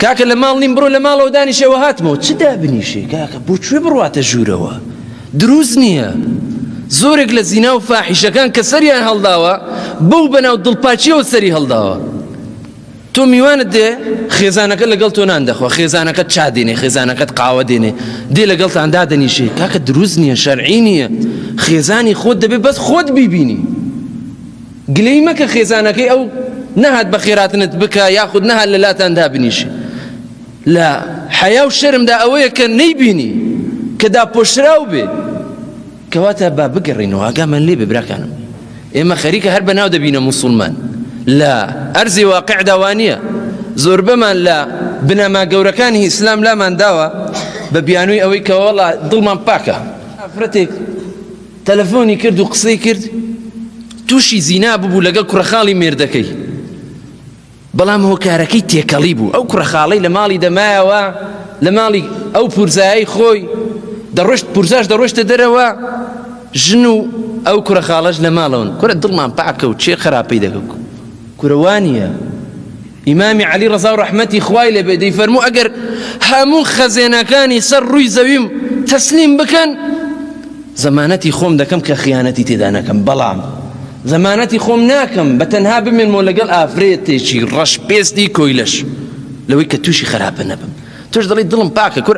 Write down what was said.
کاکە لە ماڵ نیم بڕۆ لە ماڵەوە دانیشەوە هاتمەوە چ دابنیشێ کاکە بۆ کوێ بڕواتە ژوورەوە دروست نییە زۆرێک لە زینا و فاحیشەکان کە سەریان هەڵداوە بەو بەناو دڵپاچیەوە سەری هەڵداوە تۆ میوانت دێ خێزانەکە لەگەڵ تۆ نان دەخوا خێزانەکەت چا دێنێ خێزانەکەت قاوە دێنێ دێ لەگەڵتان دادەنیشێ کاکە دروست نییە شەرعی نییە خێزانی خۆت دەبێت بەس خۆت بیبینی گلەی مەکە خێزانەکەی ئەو نەهات بە خێراتنت بکا یاخود نەهات لە لاتان دابنیشێ لە حەیا و شەرمدا ئەوەیە کە نەیبینی کە داپۆشراو بێ کەواتە با بگەڕینەوە ئاگامان لێ بێ براکانم ئێمە خەریکە هەر بەناو دەبینە موسڵمان لە ئەرزی واقع داوانە زۆربەمان لە بنەما گەورەکانی ئیسلام لامان داوە بە بیانووی ئەوەی کەوەڵا دڵمان پاکە ئافرەتێک تەلەفۆنی کرد و قسەی کرد تووشی زینا ببوو لەگەڵ کوڕەخاڵی مێردەکەی بەڵام هۆکارەکەی تێکەڵی بوو ئەو کوڕەخاڵی لە ماڵی دەمایەوە لە ماڵی ئەو پورزایی خۆی دەڕۆشت پورزاش دەڕۆشتە دەرەوە ژن و ئەو کوڕەخاڵەش لە ماڵەوەن کورە دڵمان پاکە و چێ خراپەی دەگەکو کورە وانیە ئیمامی عەلی ڕەزا و ڕەحمەتی خوای لێبێ دەیفەرموو ئەگەر هەموو خەزێنەکانی سەر ڕووی زەویم تەسلیم بکەن زەمانەتی خۆم دەکەم کە خیانەتی تێدا نەکەم بەڵام زەمانەتی خۆم ناکەم بە تەنها بمێنمەوە لەگەڵ ئافرێتێکی ڕەش پێستی کۆیلەش لەوەی کە تووشی خەراپە نەبم توش دەڵی دڵم پاکە کورە